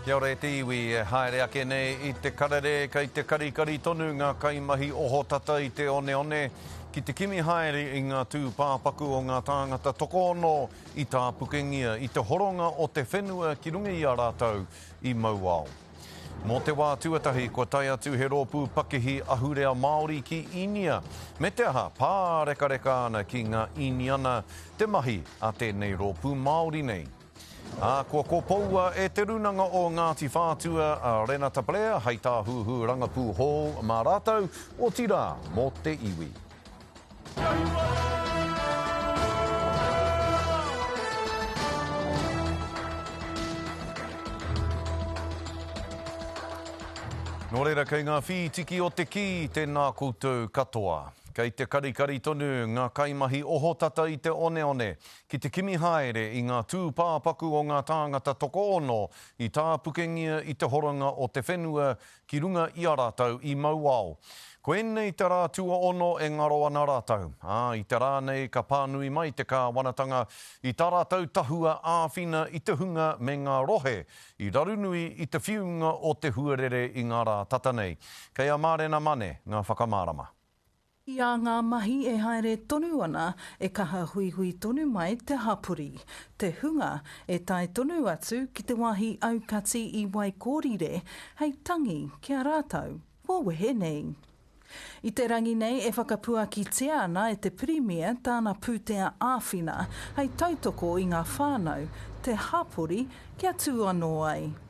Kia ora e te iwi, e haere ake nei i te karere kei te karikari tonu ngā kaimahi ohotata i te oneone ki te kimi haere i ngā tūpāpaku o ngā tāngata tokoono i tāpukengia i te horonga o te whenua ki runga i a rātou i mauao. Mō te wā tuatahi kua tae atu he rōpū pakihi ahurea Māori ki Īnia, me te aha pārekareka ana ki ngā Īniana te mahi a tēnei rōpū Māori nei. Ā, kua kopoua e Te Rūnanga o Ngāti Whātua a Rena Taplea hei tāhuhu rangapū hou mā rātou, otirā mō te iwi. Nō reira, kei ngā whītiki o te kī tēnā koutou katoa. Kei te karikari tonu ngā kaimahi ohotata i te oneone, ki te kimi haere i ngā tūpāpaku o ngā tāngata tokoono i tāpukengia i te horanga o te whenua ki runga i a rātou i mauao. Koinei te rā tuaono e ngaro ana rātou, ā, i te rā nei ka pānui mai te kāwanatanga i tā rātou tahua āwhina i te hunga me ngā rohe i rarunui i te whiunga o te huarere i ngā rā tata nei. Kei a Mārena Mane ngā whakamārama. I a ngā mahi e haere tonu ana, e kaha huihui tonu mai te hapori, te hunga e tae tonu atu ki te wāhi aukati i Waikōrire hei tangi ki a rātou kua wehe nei. I te rangi nei e whakapuakitia ana e te Pirimia tāna pūtea āwhina hei tautoko i ngā whānau, te hapori kia tū anō ai.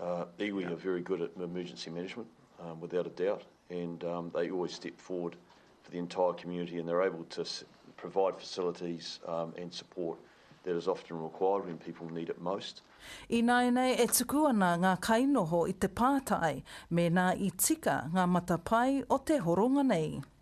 Iwi are very good at emergency management, without a doubt, and they always step forward for the entire community and they're able to provide facilities and support that is often required when people need it most. Ināianei e tuku ana ngā kainoho i te pātai mēnā i tika ngā matapae o te horonga nei.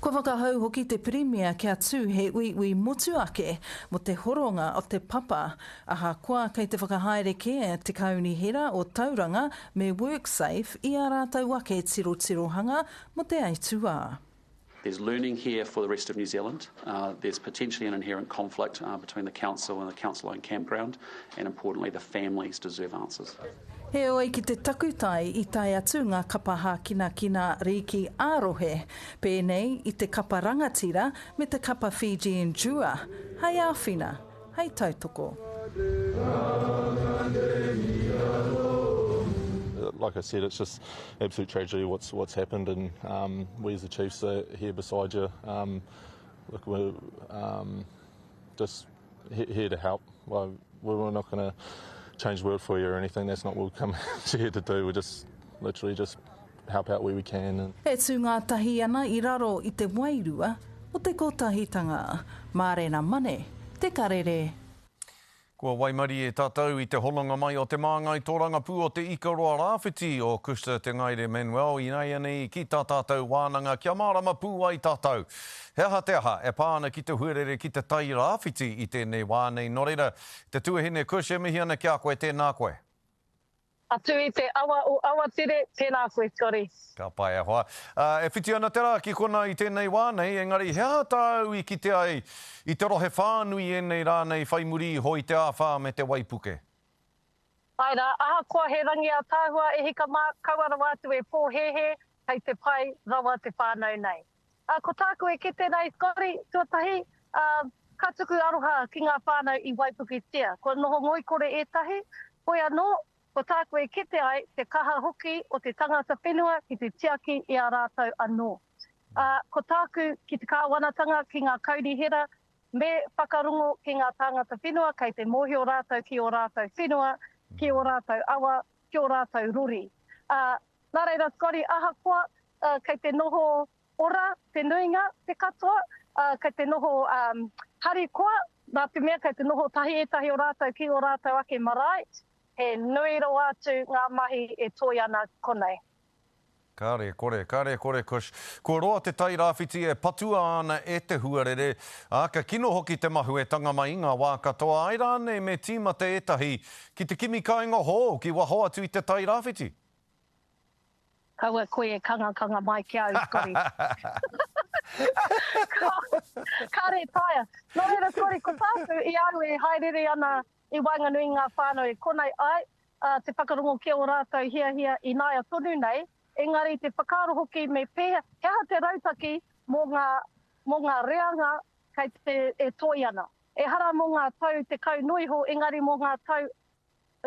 Kua whakahau hoki te Pirimia kia tū he uiui motu ake mō te horonga o Te Papa. Ahakoa kei te whakahaere kē te Kaunihera o Tauranga me WorkSafe i ā rātou ake tirotirohanga mō te aituā. There's learning here for the rest of New Zealand. There's potentially an inherent conflict between the Council and the Council-owned campground and importantly the families deserve answers. Heoi ki te takutai i tae atu ngā kapa hākinakina rīki ā-rohe, pēnei i te kapa rangatira me te kapa Fijian Dua, hei āwhina, hei tautoko. Like I said, it's just absolute tragedy what's what's happened and um, we as the Chiefs are here beside you. Um, look, we're um, just Here to help. Well, we're not going to change the world for you or anything. That's not what we've come here to do. We're just literally just help out where we can. And... E tū ngātahi ana i raro i te wairua o te kotahitanga. Mārena Mane, Te Karere. Kua waimarie tātou i te hononga mai o te māngai tōrangapū o Te Ikaroa Rāwhiti o Custer Te Ngaire Manuel ināianei ki tā tātou wānanga kia mārama pū ai tātou. He aha te aha e pā ana ki te huarere ki te tai rāwhiti i tēnei wā nei nō reira, te tuahine Kush e mihi ana ki a koe, tēnā koe. Atu i te awa o Awatere, tēnā koe kore. Ka pai e hoa. E whiti ana te rā ki konā i tēnei wā nei, engari he aha tāu i kite ai i te rohe whānui ēnei rā nei whai muri iho i te āwhā me te waipuke? Āe rā, ahakoa he rangi ātaahua e hika mā, kaua rawa atu e pōhēhē, kei te pai rawa te whānau nei. Ā, ko tāku e kite nei, kori, tuatahi, ā, ka tuku aroha ki ngā whānau i waipuketia. Kua noho ngoikore ētahi, hoi anō, ko tāku e kite ai te kaha hoki o te tangata whenua ki te tiaki i a rātou anō. Ā, ko tāku ki te kāwanatanga ki ngā kaunihera, me whakarongo ki ngā tāngata whenua kei te mōhio rātou ki ō rātou whenua, ki ō rātou awa, ki ō rātou rori. Ā, Nā reira, Scotty, ahakoa kei te noho ora te nuinga, te katoa, kei te noho harikoa, nā te mea kei te noho tahi ētahi o rātou ki ō rātou ake marae, he nui rawa atu ngā mahi e toe ana konei. Kāre kore, kāre kore, Kush. Kua roa te tai rāwhiti e patua ana e te huarere, ā, ka kino hoki te mahuetanga mai i ngā wā katoa, āe rānei me tīmata ētahi ki te kimi kāinga hou ki waho atu i te tai rāwhiti. Kaua koe e kangakanga mai ki a au, Scotty. Kāre e taea. Nō reira, Scotty, ko tāku, i a au e hāereere ana i waenganui i ngā whānau e kona ai, ā, te whakarongo ki ō rātou hiahia ināia tonu nei, engari te whakaaro hoki me pēhea, he aha te rautaki mō ngā, mō ngā reanga kei te, e toi ana. Ehara mō ngā tau tekau noa iho, engari mō ngā tau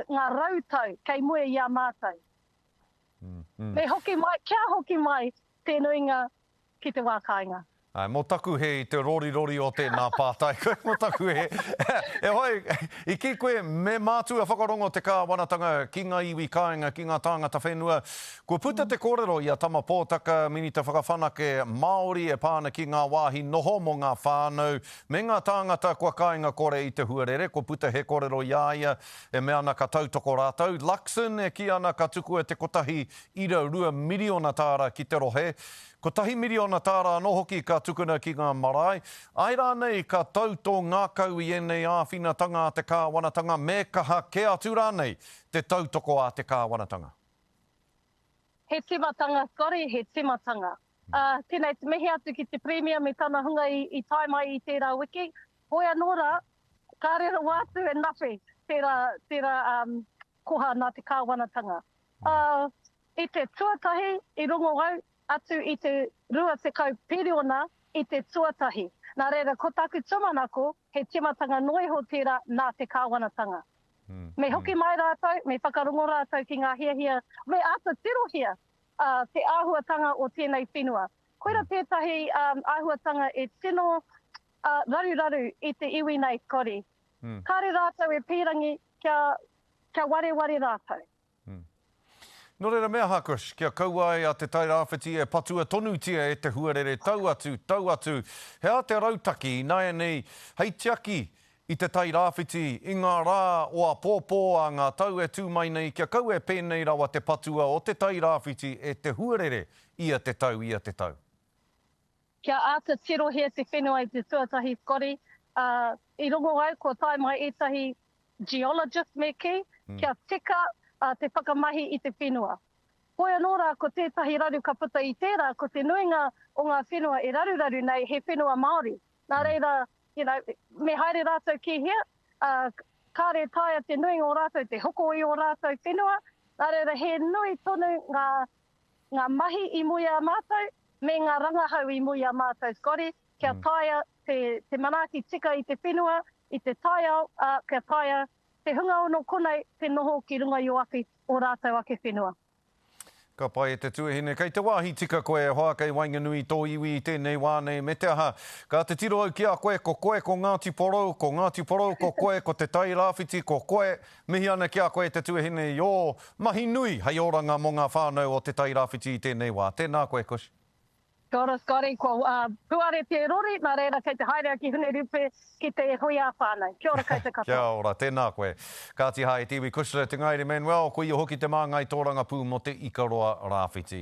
ngā rau tau kei mua i a mātou. Me hoki mai, kia hoki mai te nuinga ki te wā kāinga. Āe, mō taku hē i te rorirori o tēnā pātai koe, mō taku hē. E whai, i kī koe, me mātua whakarongo te kāwanatanga ki ngā iwi kāinga, ki ngā tāngata whenua. Kua puta te kōrero i a Tama Pōtaka, Minita Whakawhanake Māori e pā ana ki ngā wāhi noho mō ngā whānau, Me ngā tāngata kua kāinga kore i te huarere, ko puta he korero i a ia e mea ana ka tautoko rātou. Luxon e kī ana ka tukua te kotahi ira rua miriona tāra ki te rohe, kotahi miriona tāra anō hoki ka tukuna ki ngā marae. Āe rānei ka tau tō ngākau i ēnei āwhinatanga a te kāwanatanga, me kaha kē atu rānei te tautoko a te kāwanatanga? He tīmatanga kore he tīmatanga. Ā, tēnei te mihi atu ki te Pirimia me tana hunga i tae mai i tērā wiki. Hoi anō rā, kāre rawa atu e nawhi tērā, tērā koha nā te Kāwanatanga. Ā, i te tuatahi i rongo au atu i te 20 piriona i te tuatahi. Nā reira, ko taku tūmanako, he tīmatanga noa iho tērā nā te Kāwanatanga. Me hoki mai rātou, me whakarongo rātou ki ngā hiahia, me āta tirohia te āhuatanga o tēnei whenua. Koira tētahi āhuatanga e tino raruraru i te iwi nei, Scotty. Kāre rātou e pīrangi kia wareware rātou. Nō reira me aha, Chris, kia kaua ai a Te Tai Rāwhiti e patua tonutia e te huarere tau atu, tau atu, he ātea rautaki ināianei hei tiaki I te Tai Rāwhiti, i ngā rā o apōpō a ngā tau e tū mai nei kia kaua e pēnei rawa te patua o Te Tai Rāwhiti e Te Huarere ia te tau, ia te tau. Kia āta tirohia te whenua i te tuatahi kori, ā, i rongo au kua tae mai ētahi geologist me kī, kia tika te whakamahi i te whenua. Hoi anō rā ko tētahi raru ka puta i tērā ko te nuinga o ngā whenua e raruraru nei he whenua Māori. Nā reira, you know, me haere rātou ki hea, ā, kāre e taea te nuinga o rātou te hoko i ō rātou whenua, nā reira he nui tonu ngā, ngā mahi i mua i a mātou, me ngā rangahau i mua i a mātou, Scotty, kia taea te, te manaaki tika i te whenua, i te taiao, ā, kia taea te hunga ono konei te noho ki runga i ō ake, ō rātou ake whenua. Ka pai e te tuahine, kei te wāhi tika koe e hoa, kei waenganui i tō iwi i tēnei wā nei, me te aha, ka te tiro au ki a koe, ko koe ko Ngāti Porou, ko Ngāti Porou ko koe, ko Te Tai Rāwhiti ko koe, mihi ana ki a koe te tuahine i ō mahi nui hei oranga mō ngā whānau o Te Tai Rāwhiti i tēnei wā. Tēnā koe Kush. Got it, got it, kua puare te rori, nā reira kei te haere a Kihune Rupe ki te hoiā whānau. Kia ora koutou katoa. Kia ora, tēnā koe. Kāti hai te iwi Kushner, te ngaire Manuel, ko ia hoki te māngai tōrangapū mō te Ikaroa Rāwhiti.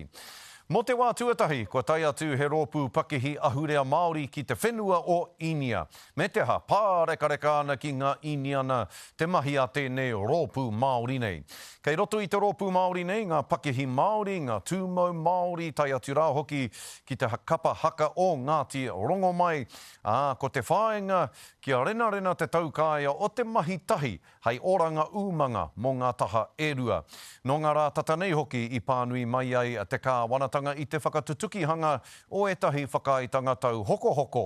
Mō te wā tuatahi, kua tae atu he rōpū pakihi ahurea Māori ki te whenua o Īnia. Me te aha, pārekareka ana ki ngā Īniana te mahi a tēnei rōpū Māori nei. Kei roto i te rōpū Māori nei ngā pakihi Māori, ngā tūmau Māori, tae atu rā hoki ki te kapa haka o Ngāti Rongomai, ā, ko te whāinga kia renarena te taukaea o te mahi tahi hei oranga umanga mō ngā taha e rua. Nō ngā rā tata nei hoki i pānui mai ai te kāwanatanga i te whakatutukihanga o ētahi whakaaetanga tauhokohoko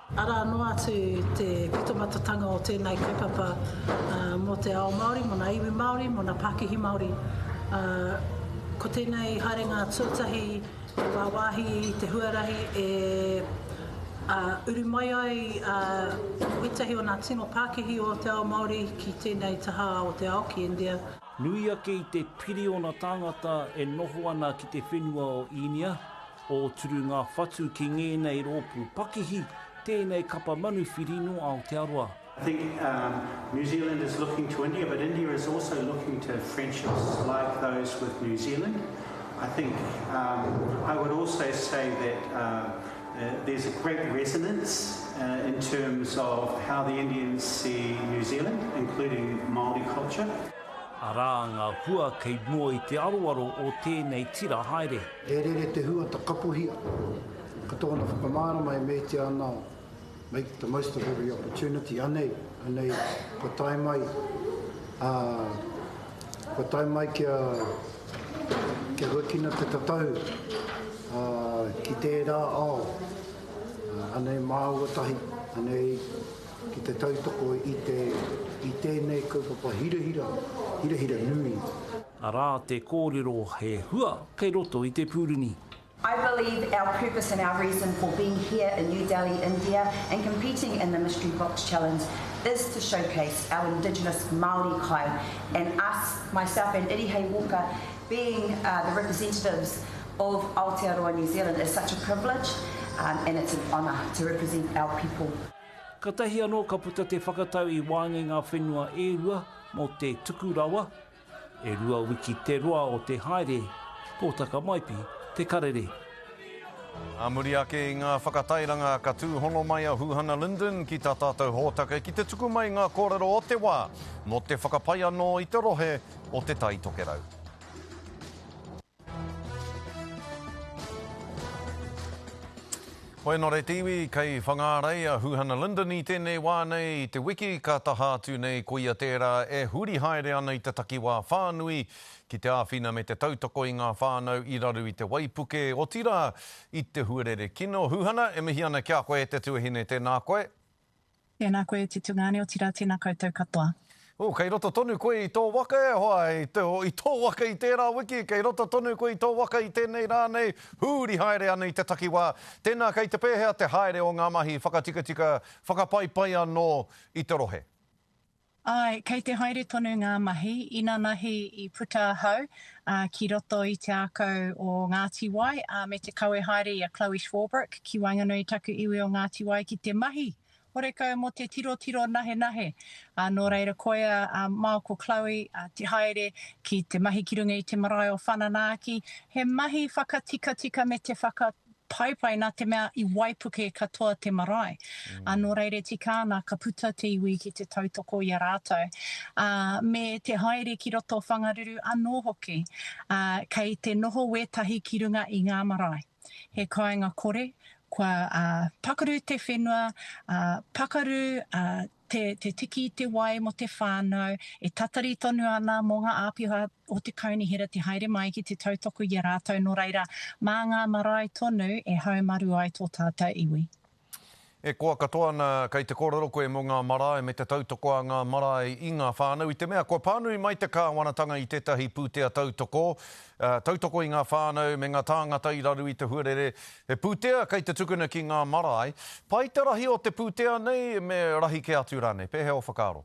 Arā noa atu te pitomatatanga o tēnei kaupapa mō te ao Māori, mō ngā iwi Māori, mō ngā pākihi Māori. Ko tēnei haerenga tuatahi i wāwāhi i te huarahi e uru mai ai ētahi o ngā tino pākihi o te ao Māori ki tēnei taha o te ao, ki India. Nui ake i te piriona tāngata e noho ana ki te whenua o Īnia, Ōturu ngā whatu ki ngēnei rōpū pakihi, tēnei kapa manuwhiri nō Aotearoa. I think um New Zealand is looking to India but India is also looking to friendships like those with New Zealand. I think um I would also say that um there's a great resonance uh in terms of how the Indians see New Zealand including Māori culture. Arā ngā hua kei mua i te aroaro o tēnei tira haere. He rere te huata kapohia. Ko tōna whakamārama e meatia ana make the most of every opportunity, anei, anei, kua tae mai, ā, kua tae mai kia, kia huakina te tatau, ā, ki tērā ao, ā, anei māua tahi, anei, ki te tautoko i te i tēnei kaupapa hirahira, hirahira nui. Arā te kōrero he hua kei roto i te pūruni. I believe our purpose and our reason for being here in New Delhi, India and competing in the Mystery Box Challenge is to showcase our indigenous Māori kai and us, myself and Irihei Walker, being the representatives of Aotearoa New Zealand is such a privilege and it's an honour to represent our people. Katahi anō ka puta te whakatau i wāngi ngā whenua e rua mō te tuku rawa, e rua wiki te roa o te haere, pōtaka maipi te karere. Ā muri ake i ngā whakatairanga ka tūhono mai a Huhana Linden ki tā tātou hōtaka ki te tuku mai ngā kōrero o te wā mō te whakapai anō i te rohe o Te Tai Tokerau. Hoi anō rei te iwi, kei Whangārei a Huhana Linden i tēnei wā nei i te wiki ka taha atu nei ko ia tērā e huri haere ana i te takiwā whānui ki te āwhina me te tautoko i ngā whānau i raru i te waipuke, otirā i te huarere kino. Huhana, e mihi ana ki a koe te tuahine, tēnā koe. Tēnā koe Te Tungane otira tēnā koutou katoa. Ooh, kei roto tonu koe i tō waka e hoa, i tō waka i tērā wiki, kei roto tonu koe i tō waka i tēnei rā nei, huri haere ana i te takiwā. Tēnā, kei te pēhea te haere o ngā mahi whakatikatika, whakapaipai anō i te rohe? Āe, kei te haere tonu ngā mahi. Inanahi i puta ahau ki roto i te ākau o Ngāti Wai, ā, me te kawe haere i a Chloe Swarbrick ki waenganui i taku iwi o Ngāti Wai ki te mahi horekau mō te tirotiro nahenahe. Ā, nō reira, koia a Mao ko Chloe te haere ki te mahi ki runga i te marae o Whananaaki. He mahi whakatikatika me te whaka, Paepae, nā te mea i waipuke katoa te marae. Ā, nō reira e tika ana ka puta te iwi ki te tautoko i a rātou, ā, me te haere ki roto o Whangaruru anō hoki, ā, kei te noho wētahi ki runga i ngā marae. He kāinga kore, kua pakuru te whenua, ā, pakaru, ā, te tiki i te wai mō te whānau, e tatari tonu ana mō ngā āpiha o te kaunihera te haere mai ki te tautoko i a rātou nō reira, mā ngā marae tonu e haumaru ai tō tātou iwi. E koa katoa ana kei te kōrero koe mō ngā marae me te tautoko a ngā marae i ngā whānau i te mea kua pānui mai te kāwanatanga i tētahi pūtea tautoko, Tautoko i ngā whānau me ngā tāngata i raru i te huarere. He pūtea kei te tukuna ki ngā marae. Pai te rahi o te pūtea nei me rahi kē atu rānei. Pēhea ō whakaaro?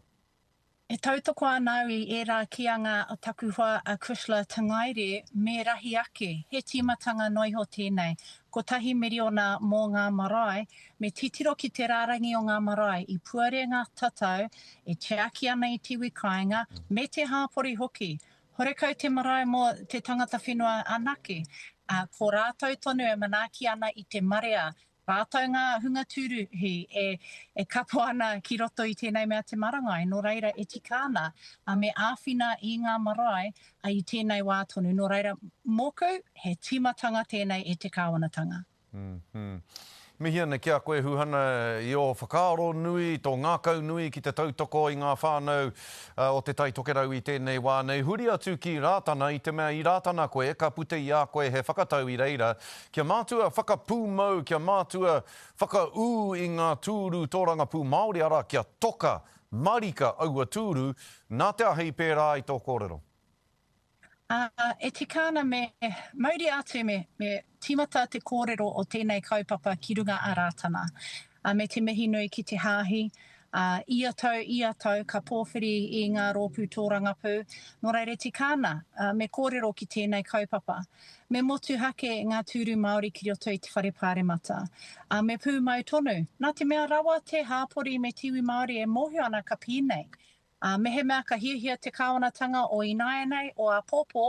E tautoko ana au i ērā kīanga a taku hoa a Chrysler Te Ngaire me rahi ake. He tīmatanga noa iho tēnei. Kotahi miriona mō ngā marae. Me titiro ki te rārangi o ngā marae i puarenga tatau e tiaki ana i te iwi kāinga me te hāpori hoki. Horekau te marae mō te tangata whenua anake, ā, ko rātou tonu e manaaki ana i te marea, rātou ngā hunga tūruhi e, e kapo ana ki roto i tēnei mea te marangai, nō reira e tika ana, ā, me āwhina i ngā marae, ā, i tēnei wā tonu, nō reira, mōku, he tīmatanga tēnei e te Kāwanatanga. Mihi ana ki a koe Huhana i ō whakaaro nui, tō ngākau nui ki te tautoko i ngā whānau o Te Tai Tokerau i tēnei wā nei. Huri atu ki Rātana i te mea i Rātana koe ka puta i a koe he whakatau i reira kia mātua whakapūmau, kia mātua whakaū i ngā tūru tōrangapū Māori, arā, kia toka marika aua tūru. Nā te aha i pērā ai tō kōrero? Ā, e tika ana me mauria atu, me, me tīmata te kōrero o tēnei kaupapa ki runga a Rātana. Ā, me te mihi nui ki te Hāhi, ā, ia tau, ia tau ka pōwhiri i ngā rōpū tōrangapū, nō reira e tika ana, ā, me kōrero ki tēnei kaupapa. Me motuhake ngā tūru Māori ki roto i te Whare Pāremata. Ā, me pūmau tonu, nā te mea rawa te hāpori me te iwi Māori e mōhio ana ka pēnei, Ā, mehemea ka hiahia te kāwanatanga o ināianei o āpōpō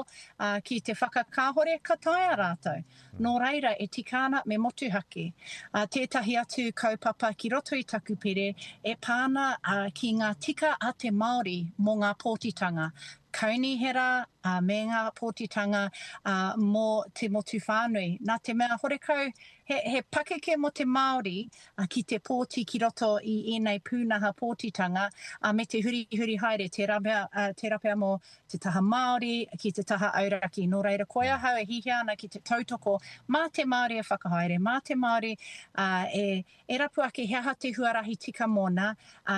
ki te whakakāhore, ka taea rātou. Nō reira, e tika ana me motuhake tētahi atu kaupapa ki roto i taku pire e pā ana ki ngā tika a te Māori mō ngā pōtitanga kaunihera me ngā pōtitanga mō te motu whānui. Nā te mea horekau he pakeke mō te Māori a ki te pōti ki roto i ēnei pūnaha pōtitanga, a me te hurihuri haere, tērā pea, tērā pea mō te taha Māori ki te taha auraki. Nō reira, ko ahau e hīhia ana ki te tautoko mā te Māori e whakahaere, mā te Māori e, e rapu ake he aha te huarahi tika mōna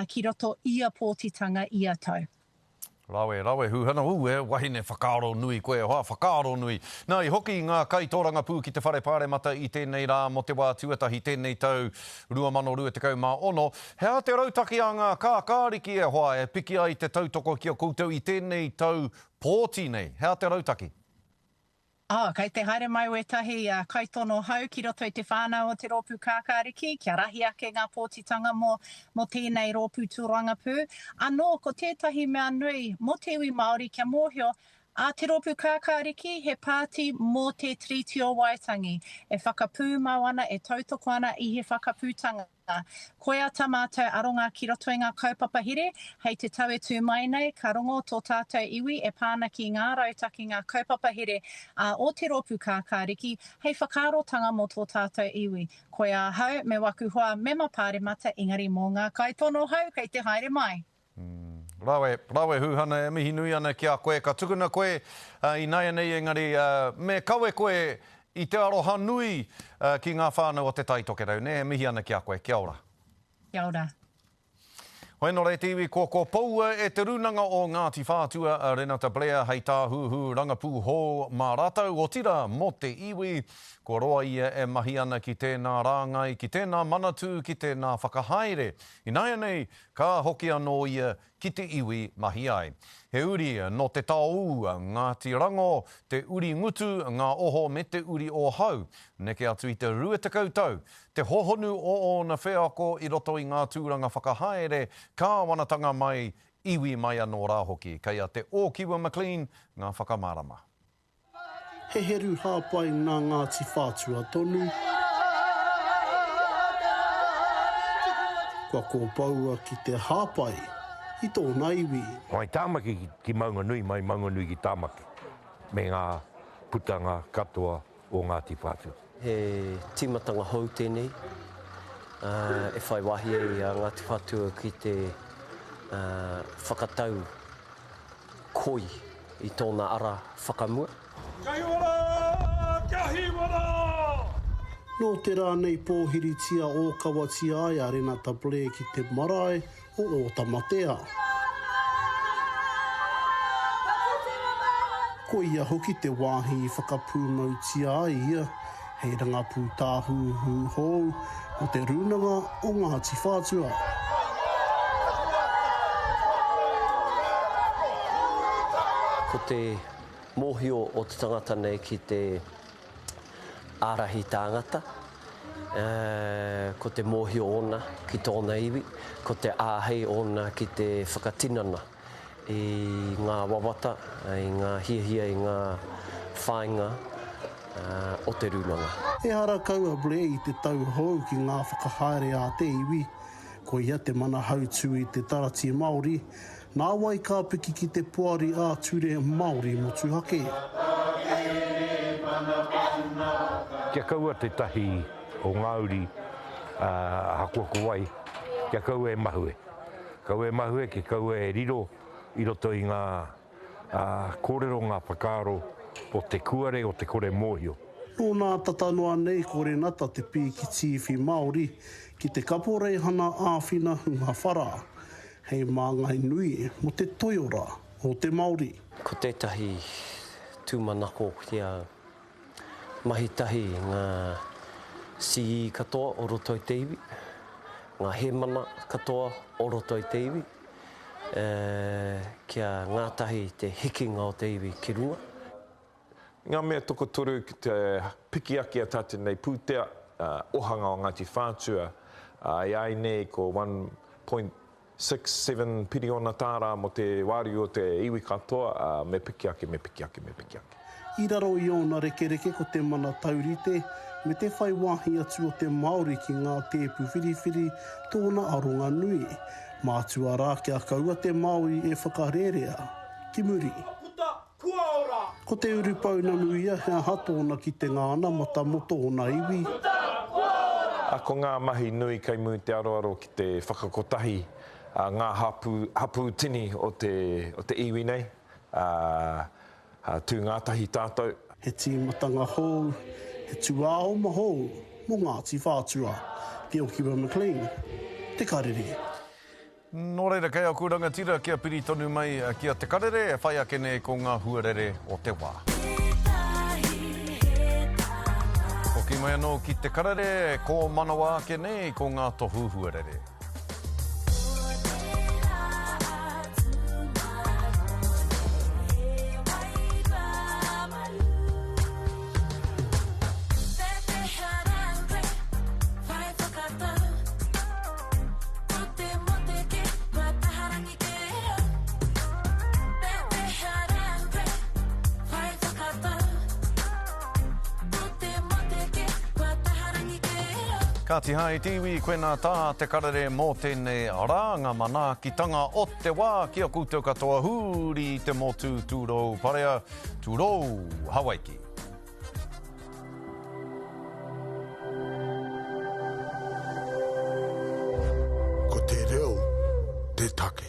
ki roto ia pōtitanga ia tau. Rawe, rawe huhana, ooh e wahine whakaaro nui koe, hoa whakaaro nui. Na i hoki nga kai torangapū ki te whare paremata i tenei ra mo te wa tuatahi tenei tau 2026, he aha te rautaki a nga kakariki e hoa e piki ai te tautoko ki a koutou i tenei tau pooti nei, he aha te rautaki? Oh, kei te haere mai wētahi kaitono hou ki roto i te whānau o te rōpū Kākāriki kia rahi ake ngā pōtitanga mō mō tēnei rōpū tūrangapū. Anō, ko tētahi mea nui mō te iwi Māori kia mōhio, a, te rōpū Kākāriki he pāti mō te Tiriti o Waitangi, e whakapūmau ana, e tautoko ana i he whakaputanga. Koia tā mātou aronga ki roto i ngā kaupapa here, hei te tau e tū mai nei, ka rongo tō tātou iwi e pā ana ki ngā rautakinga kaupapa here ā o te rōpū kākāriki hei whakaarotanga mō tō tātou iwi. Koia ahau, me waku hoa mema pāremata engari mō ngā kaitono hou kei te haere mai. Rawe, rawe Huhana e mihi nui ana ki a koe ka tukuna koe i naianei engari me kawe koe i te aroha nui ki nga whanau o te Tai Tokerau ne e mihi ana ki a koe kia ora. Kia ora. Hoi no reti iwi ko ko poua e te runanga o Ngati Whatua a Renata Blair hei Tahuhu Rangapu hou ma ratou otira mo te iwi ko roa ia e mahi ana ki tena rangai ki tena manatu ki tena whakahaere inaianei Ka hoki anō ia ki te iwi mahi ai. He uri nō Te Taoū a Ngāti Rangō, te uri ngutu ngā oho me te uri o Hau. Neke atu i te rua tekau tau, te hohonu o ōna wheako i roto i ngā tūranga whakahaere, kāwanatanga mai, iwi mai anō rā hoki. Kei a Te Ōkiwa McLean ngā whakamārama. He heru hāpai nā Ngāti Whātua tonu. Kua kōpoua ki te hāpai i tōna iwi. Mai Tāmaki ki Maunganui, mai Maunganui ki Tāmaki, me ngā putanga katoa o Ngāti Whātua. He tīmatanga hou tēnei e whai wāhi ai a Ngāti Whātua ki te whakatau koi i tōna ara whakamua. Kai ora! Kia hīwara! Nō te rā nei pōhiritia ōkawatia ai a Renata Blair ki te marae o ō tamatea. Ko ia hoki te wāhi i whakapūmautia ai ia hei rangapū tāhuhu hou mō Te Rūnanga o Ngāti Whātua. Ko te mōhio o te tangata nei ki te. ārahi tāngata, ā, ko te mōhio ōna ki tōna iwi, ko te āhei ōna ki te whakatinana i ngā wawata, i ngā hiahia, i ngā whāinga o te rūnanga. Ehara kau a Blair i te tau hou ki ngā whakahaere a te iwi, koia te mana hautū i te Taratī Māori, Nāwai ka piki ki te Poari ā-Ture Māori Motuhake. Kia kaua tētahi o ngā uri ahakoa ko wai, kia kaua e mahue. Kaua e mahue, kia kaua e riro i roto i ngā kōrero, ngā whakaaro o te kuare, o te kore mōhio. Nō nā tata noa nei ko Renata te pīkitīwhi Māori ki te kaporeihana āwhina hunga whara. He māngai nui mō te toiora o te Māori. Ko tētahi tūmanako ki a mahi tahi ngā CE katoa o roto i te iwi, ngā hēmana katoa o roto i te iwi, kia ngātahi te hikinga o te iwi ki runga. Ngā mea tokotoru ki te piki ake a tātou nei pūtea, ohanga o Ngāti Whātua, e ai nei ko 1.67 piriona tāra mō te wāriu o te iwi katoa, me piki ake, me piki ake, me piki ake. I raro i ōna rekereke ko te mana taurite me te whai wāhi atu o te Māori ki ngā tēpu whiriwhiri tōna aronga nui. Mātua rā kia kaua te Māori e whakarērea. Ki muri. Kua ora! Ko te urupounamu ia, he aha tōna kitenga ana mata mō tōna iwi? Kua tara! Kua ora! Ko ngā mahi nui kei mū te aroaro ki te whakakotahi a ngā hapū, hapū tini o te, o te iwi nei, ā, ā, tū ngātahi tātou. He tīmatanga hou, he tūāoma hou mō Ngāti Whātua, Te Okiwa McLean, Te Karere. Nō reira, kei aku rangatira kia piri tonu mai ki a Te Karere e whai ake nei ko ngā huarere o te wā. Hoki mai anō ki Te Karere e kōmanawa ake nei ko ngā tohu huarere. Ngāti Hai te iwi, koe nā tā te karere mō tēnei rānga manaakitanga o te wā ki a koutou katoa hūri te motu tūrou parea, tūrou Hawaiki. Ko te reo te take.